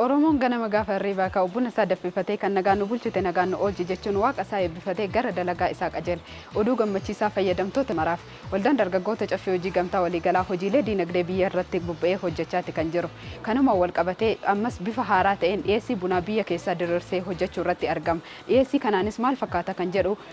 Oromoon ganama gaafa hirriibaa ka'u buna isaa danfifatee kan nagaan nu bulchite nagaan nu oolchi jechuun waaqa isaa eebbifatee gara dalagaa isaa qajeela. Oduu gammachiisaa fayyadamtoota maraaf. Waldaan Dargaggoota Caffee Hojii Gamtaa Waliigalaa hojiilee diinagdee biyya irratti bobba'ee hojjechaati kan jiru. Kanumaan walqabatee ammas bifa haaraa ta'een dhiyeessii bunaa biyya keessaa diriirsee hojjechuu irratti argama. Dhiyeessii kanaanis maal fakkaata kan jedhu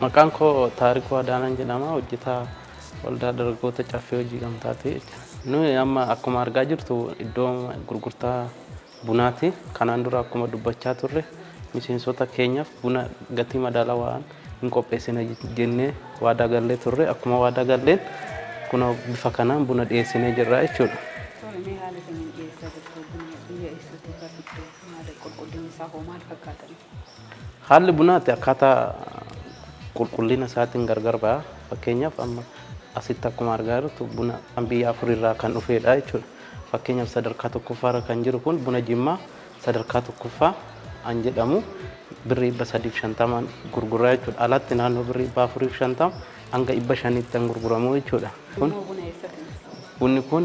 Maqaan koo Taarikuu Adaanaan jedhama. Hojjetaa Waldaa Dargaggoota Caffee Hojii Gamtaati jechuudha. Nuyi amma akkuma argaa jirtu iddoo gurgurtaa bunaati. Kanaan dura akkuma dubbachaa turre miseensota keenyaaf buna gatii madaalawaan hin qopheessina jennee waadaa gallee turre. Akkuma waadaa galleen kunoo bifa kanaan buna dhiyeessinee jirra jechuudha. Tole mee haala kamiin dhiyeessaa jirtu buna biyya eessaatti irraa fiddu maal qulqullinni isaa hoo maal fakkaata ree? Haalli bunaa itti akkaataa qulqullina isaatiin gargar ba'a. Fakkeenyaaf amma asitti akkuma argaa jirtu buna kan biyya afurirraa kan dhufeedha jechuudha. Fakkeenyaaf sadarkaa tokkoffaarra kan jiru kun buna jimmaa sadarkaa tokkoffaa an jedhamu birrii dhibba sadiif shantamaan gurguraa jechuudha. Alatti naannoo birrii dhibba afuriif shantama Hanga 500tti kan gurguramu jechuudha. Kun bunni kun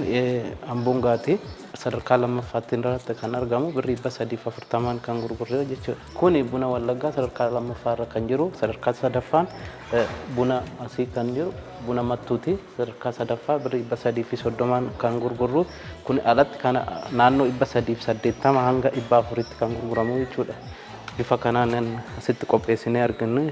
amboon gaatee sadarkaa lammaffaatti irratti kan argamu birrii 340n kan gurgurre jechuudha. Kun buna wallaggaa sadarkaa lammaffaa irra kan jiru sadarkaa sadaffaan buna asii kan jiru buna mattuuti sadarkaa sadaffaa birrii 330n kan gurgurru kun alatti kana naannoo 380 hanga 400tti kan gurguramu jechuudha. Bifa kanaan asitti qopheessinee argannu.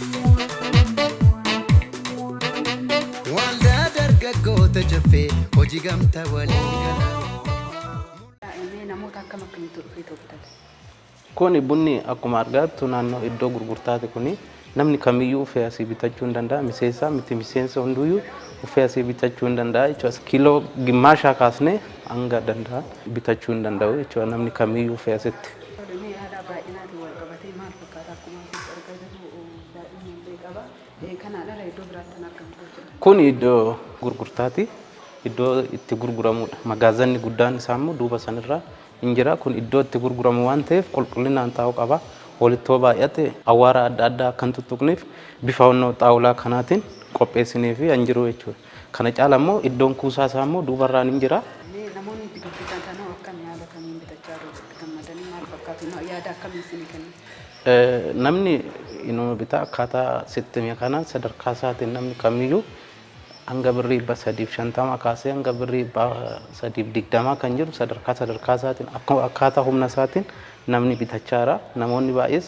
Waldaa dargaggoota caffee hojii gamtaa waliin galaa. Mee namoota akkam akkamitti dhufee turtan? Kuni bunni akkuma argaattu naannoo iddoo gurgurtaati kuni namni kamiyyuu uffee asii bitachuu hin danda'a miseensaa miti miseensa hunduyyuu uffee asii bitachuu hin danda'a jechuudha kiiloo gimmaashaa kaasnee hanga danda'a bitachuu hin danda'u jechuudha namni kamiyyuu uffee asitti. Mee haala baay'inaatiin wal qabatee maal Kun iddoo gurgurtaati. Iddoo itti gurguramudha. Magaazanni guddaan isaa immoo duuba sanirraa hin jira. Kun iddoo itti gurguramu waan ta'eef qulqullinaan taa'uu qaba. Walitti yoo baay'ate awwaara adda addaa akka hin tuttuqneef bifa onnoo xaawulaa kanaatiin qopheessinee fi hin jiru jechuudha. Kana caala immoo iddoon kuusaa isaa immoo duuba irraan in jira. Mee namoonni itti gurgurtan hoo akkami haala kamiin bitachaa jiru itti gammadanii maal fakkaatu ma- yaada akkamii isinii kennu? Eh, Namni inuma bitaa akkaataa sitti hime kanaan sadarkaa isaatiin namni kamiyyuu hanga birrii dhibba sadiif shantama kaasee hanga birrii dhibba sadiif digdamaa kan jiru sadarkaa sadarkaa isaatiin akka- akkaataa humna isaatiin namni bitachaa jira. Namoonni baay'ees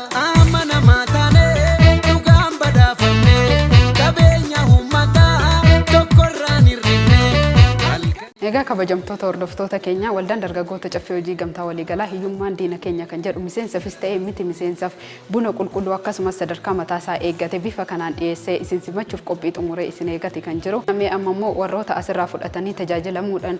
Amanamaa taanee dhugaan badhaafamnee qabeenya uummataa tokkorraan hir'ifnee halkanii. Egaa kabajamtoota hordoftoota keenyaa Waldaan Dargaggoota Caffee Hojii Gamtaa Waliigalaa hiyyummaan diina keenya kan jedhu miseensafis ta'ee miti miseensaaf buna qulqulluu akkasumas sadarkaa mataasaa eeggate bifa kanaan dhiyeessee isin simachuuf qophii xumuree isin eegati kan jiru. Mee ammammoo warroota asirraa fudhatanii tajaajilamuudhaan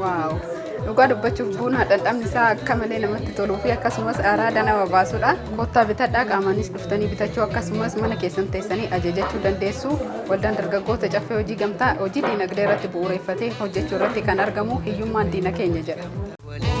Waaw! Dhugaa dubbachuuf buunaa dhandhamni isaa akka malee namatti toluu fi akkasumas araada nama baasudha. Kottaa bitadhaa qaamaanis dhuftanii bitachuu akkasumas mana keessan teessanii ajajachuu dandeessu. Waldaan dargaggoota caffee hojii gamtaa hojii diinagdee irratti bu'uureffatee hojjechuu irratti kan argamu hiyyummaan diina keenya jedha.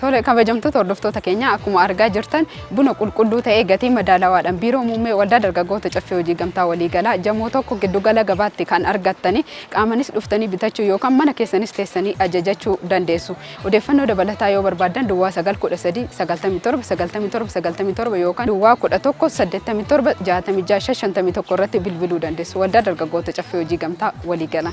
Tole kabajamtoota hordoftoota keenya akkuma argaa jirtan buna qulqulluu ta'ee gatii madaalawaadhaan biiroo muummee waldaa dargaggoota caffee hojii gamtaa waliigalaa jamoo tokko giddugala gabaatti kan argattanii qaamanis dhuftanii bitachuu yookaan mana keessanis teessanii ajajachuu dandeessu. Odeeffannoo dabalataa yoo barbaaddan duwwaa 9 13 97 97 97 yookaan duwwaa 11 87 66 551 irratti bilbiluu dandeessu. Waldaa dargaggoota caffee hojii gamtaa waliigalaa.